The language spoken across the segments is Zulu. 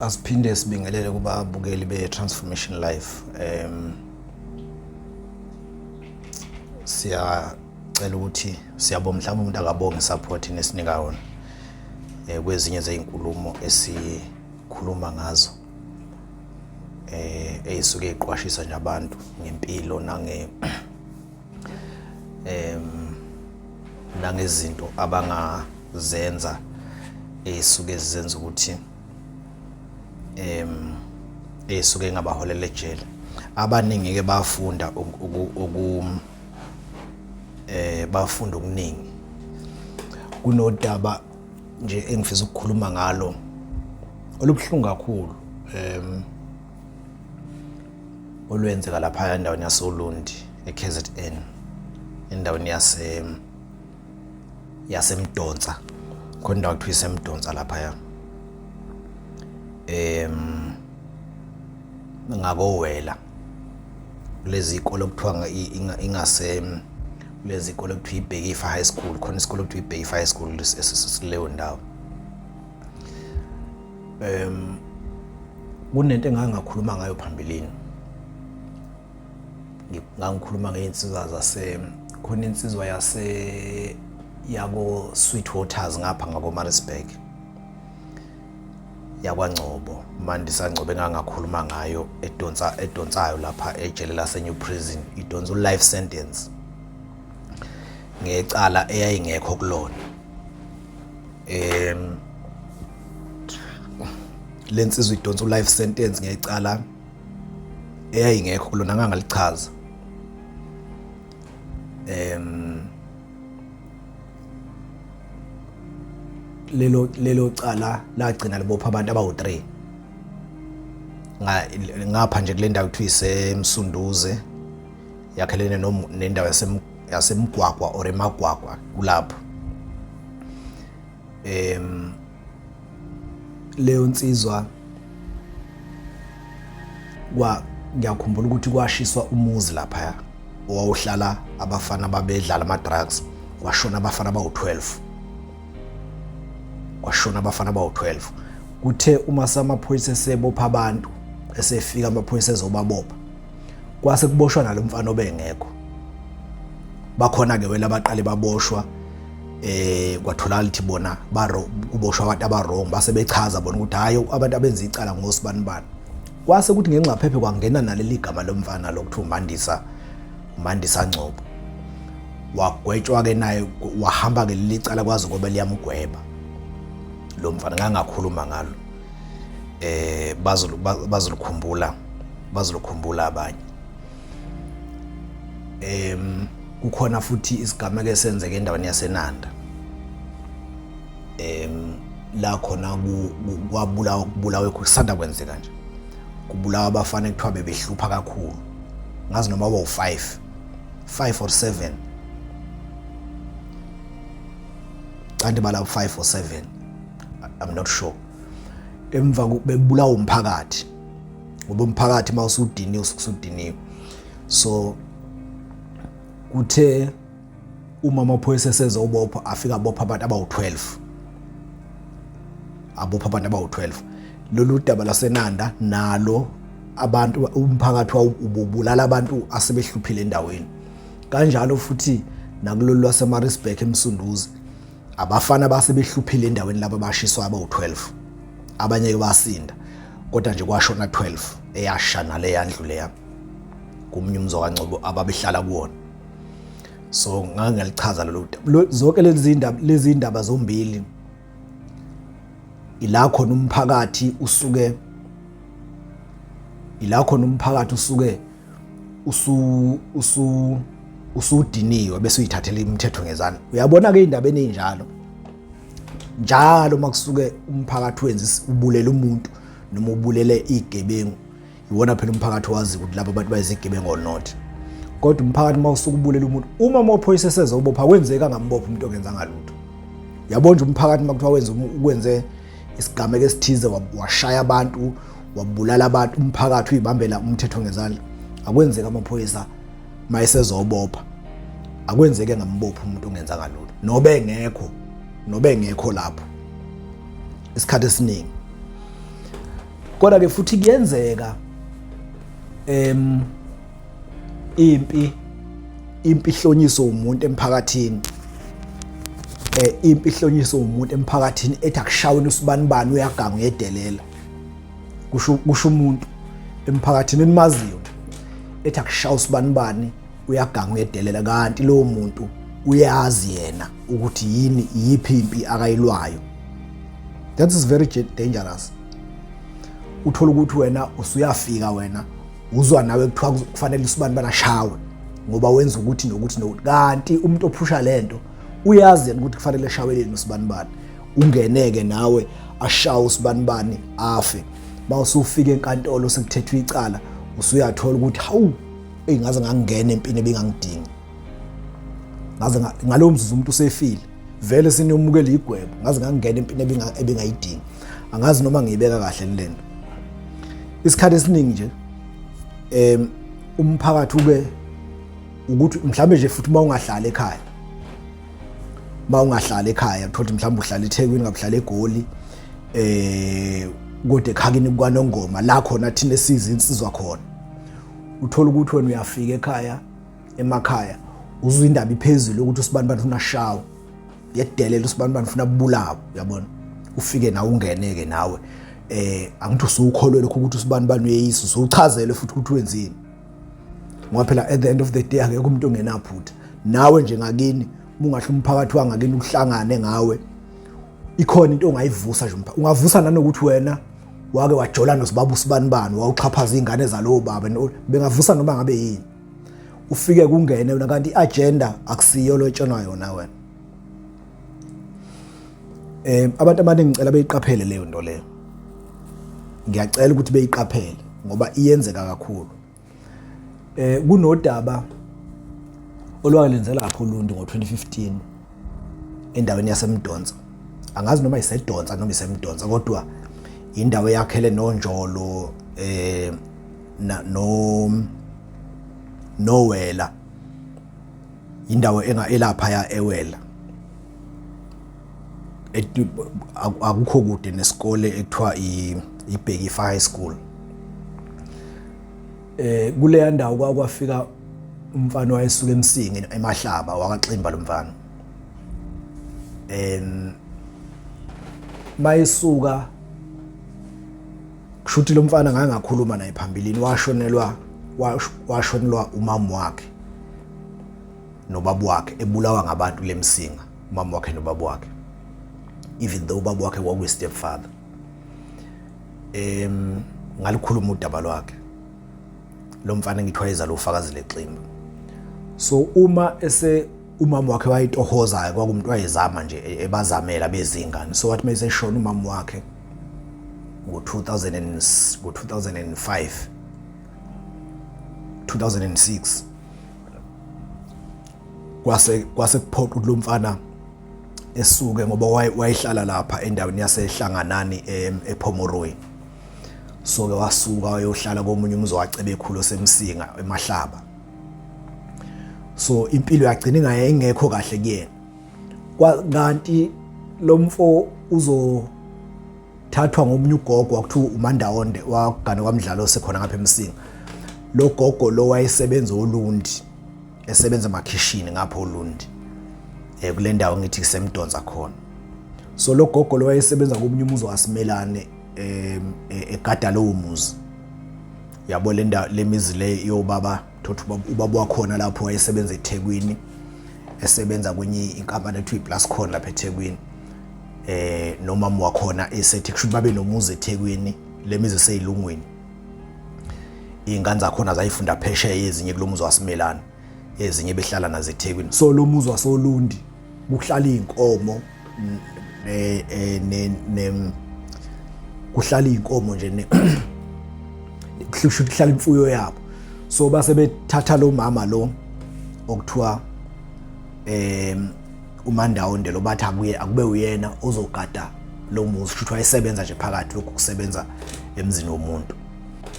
Asiphinde sibingelele kubabukeli be-Transformation Life. Um, siyacela ukuthi siyabonga mhlawumbe umuntu akabonga i-support nesinika yona um kwezinye zezinkulumo esikhuluma ngazo eh eyisuke iqwashisa nje abantu ngempilo nange em nangezinto abangazenza esuke zizenza ukuthi em esuke ingabaholela ejele abaningi ke bafunda uku eh bafunda okuningi kunodaba nje engifisa ukukhuluma ngalo olubuhlungu kakhulu em olwenzeka lapha endaweni yasoLundi eKZN endaweni yase yasemdonsa khona indawo kuthiwa isemdonsa laphaya em ngakowela kulezi ikole okuthiwa ingase kulezi ikole okuthiwa ibhekifa high school khona isikole okuthiwa ibhekifa high school esileyo ndawo em kunento engangakhuluma ngayo phambilini ngangikhuluma ngey'nsizwa zase khona insizwa yase yako Sweet Waters ngapha ngako Maritzburg yakwangcobo mandisa ngcobo engangakhuluma ngayo edonsa edonsayo lapha ejele lase New Prison idonsa u life sentence ngecala eyayingekho kulona em lensizwa idonsa u life sentence ngecala eyayingekho kulona ngangalichaza em lelo lelo cala lagcina libopha abantu abawu3 ngapha nje kule ndawo kuthiwa isemsunduze yakhelene nendawo yasemgwagwa or emagwagwa kulapho em leyo nsizwa kwa ngiyakhumbula ukuthi kwashiswa umuzi lapha owawuhlala abafana babedlala ama-drugs kwashona abafana bawu-12 kwashona abafana bawu-12 kuthe uma samaphoyisa esebopha abantu esefika amaphoyisa ezobabopha kwase kuboshwa nalo mfana obengekho bakhona-ke wela baqale baboshwa eh kwatholakala ukuthi bona baro kuboshwa abantu abarong base bechaza bona ukuthi hayi abantu abenza icala ngosibanibani kwase ukuthi ngenxa phephe kwangena naleli gama lomfana lokuthiwa umandisa umandisa ngcobo wagwetshwa ke naye wahamba ke leli cala kwazi ngoba liyamgweba lo mfana ngangakhuluma ngalo eh bazolukhumbula bazolukhumbula abanye em kukhona futhi isigameko esenzeke endaweni yaseNanda em la khona kwabulawa kubulawe kusanda kwenzeka nje kubulawa abafana ekuthiwa bebehlupha kakhulu ngazi noma bawu-5 5 or 7 kanti balabo 5 or 7 i'm not sure emva bebulawa umphakathi ngoba umphakathi uma usudiniwe usudiniwe so kuthe uma amaphoyisa esezobopha afika abopha abantu abawu-12 abopha abantu abawu-12 lolu daba lasenanda nalo abantu umphakathi wawubulala abantu asebehluphile endaweni kanjalo futhi nakulolu lwasemarisburg emsunduzi abafana base behluphile endaweni laba bashiswa abawu-12 abanye-ke basinda kodwa nje kwashona 12 eyasha nale yandlule yami kumnye umzo kaNcobo ababehlala kuwona so ngake ngalichaza lolu zonke lezi ndaba lezi ndaba zombili ila khona umphakathi usuke ila khona umphakathi usuke usu usu usudiniwe bese uyithathela imithetho ngezana uyabona ke indaba eninjalo njalo makusuke umphakathi wenza ubulele umuntu noma ubulele igebengu iwona phela umphakathi wazi ukuthi laba abantu bayizigebengu or not kodwa umphakathi uma usuke ubulela umuntu uma amaphoyisa eseze ubopha kwenzeka ngambopha umuntu ongenzanga lutho yabona umphakathi uma kuthiwa wenze ukwenze isigameko esithize washaya abantu wabulala abantu umphakathi uyibambela umthetho ngezandla akwenzeki amaphoyisa mayesezobopha akwenzeke ngambopha umuntu ongenza kalula nobe engekho nobe engekho lapho isikhathi esiningi kodwa ke futhi kuyenzeka em impi impi ihlonyiswe umuntu emphakathini eh impi ihlonyiswe umuntu emphakathini ethi akushawini usibanibani uyaganga uyedelela kusho kusho umuntu emphakathini enimaziyo ethi akushawa usibanibani uyaganga uyedelela kanti lowo muntu uyazi yena ukuthi yini yiphi impi akayilwayo that is very dangerous uthola ukuthi wena usuyafika wena uzwa nawe kuthiwa kufanele usibani banashawe ngoba wenza ukuthi nokuthi nokuthi kanti umuntu ophusha lento uyazi ukuthi kufanele eshaweleni usibanibani ungeneke nawe ashawe usibanibani afe mawusufika enkantolo sekuthethwa icala usuyathola ukuthi hawu eyingaze ngangena empini ebingangidingi ngaze ngalowo mzuzu umuntu usefile vele siniyomukela igwebo ngaze ngangena empini ebingayidingi angazi noma ngiyibeka kahle le nto isikhathi esiningi nje em umphakathi ube ukuthi mhlambe nje futhi uma ungahlala ekhaya uma ungahlala ekhaya thothi mhlambe uhlala eThekwini ngabuhlala eGoli eh kodwa ekhakini kwanongoma la khona thina siza insizwa khona uthola ukuthi wena uyafika ekhaya emakhaya uzwa indaba iphezulu ukuthi usibanibani ufuna shawo yedelela usibanibani ufuna bulawa uyabona ufike nawe ungeneke nawe eh angithi usukholwe lokho ukuthi usibanibani uyeyisu usuchazele futhi ukuthi wenzeni ngoba phela at the end of the day akekho umuntu ongenaphutha nawe nje ngakini ungahle umphakathi wangakini uhlangane ngawe ikhona into ongayivusa nje umphakathi ungavusa nanokuthi wena wake wajola nosibaba usibanibani wawuxhaphaza izingane zalowo baba bengavusa noma ngabe yini ufike kungene wena kanti i-agenda akusiyo lotshenwa yona wena um abantu abaningi ngicela beyiqaphele leyo nto leyo ngiyacela ukuthi beyiqaphele ngoba iyenzeka kakhulu eh kunodaba olwalenze lapho uLundi ngo-2015 endaweni yaseMdonsa angazi noma isedonsa noma isemdonsa kodwa indawo yakhele nonjolo eh na no nowela indawo enga elapha ya ewela akukho kude nesikole ekuthiwa ibhekifa high school eh kuleya ndawo kwakwafika umfana wayesuka emsingi emahlaba wakaximba lo mfana em mayesuka kushuthi lo mfana ngake ngakhuluma naye phambilini washonelwa washonelwa umama wakhe nobaba wakhe ebulawa ngabantu lemsinga umama wakhe nobaba wakhe even though ubaba wakhe kwakuyi step father em ngalikhuluma udaba lwakhe lo mfana ngithiwa yeza lo fakazi leximba so uma ese umama wakhe wayitohozayo kwakumntu wayezama nje ebazamela bezingane so wathi mayiseshona umama wakhe ngo-2000 ngo-2005 2006 kwase kwase kuphoqa ukuthi lo mfana esuke ngoba wayehlala lapha endaweni yasehlanganani ePhomoroyi so ke wasuka wayohlala komunye umzi wacebe ekhulu osemsinga emahlaba so impilo yagcina ingayengekho kahle kuyena kanti lo mfo uzothathwa ngomunye ugogo wakuthiwa umandawonde wagane kwamdlalo osekhona ngapha emsinga lo gogo lo wayesebenza olundi esebenza emakhishini ngapha olundi um eh, kule ndawo ngithi kusemdonsa khona so lo gogo lo wayesebenza komunye umuzi wasimelane um egada lowo muzi yabo le mizi le yobaba thothi ubaba wakhona lapho wayesebenza eThekwini esebenza kwenye inkampani ethiwa iPlascon lapha eThekwini eh nomama wakhona esethi kusho babe nomuzi eThekwini lemizi seyilungwini ingane zakhona zayifunda phesheya ezinye kulomuzi waSimelana ezinye behlala nazo eThekwini so lomuzi wasoLundi kuhlala izinkomo ne eh, ne kuhlala izinkomo nje ne kusho kuhlala imfuyo yabo so base bethatha lo mama lo okuthiwa em umandawonde lo bathi akuye akube uyena ozogada lo muzi futhi wayesebenza nje phakathi lokhu kusebenza emzini womuntu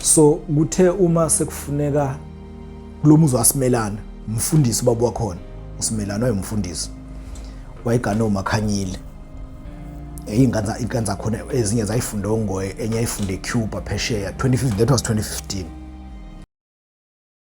so kuthe uma sekufuneka kulo muzi wasimelana umfundisi ubaba wakhona usimelana wayemfundisi wayegane umakhanyile eyinkanza inkanza khona ezinye zayifunda ongoye enye ayifunde ecuba phesheya 2015 that was 2015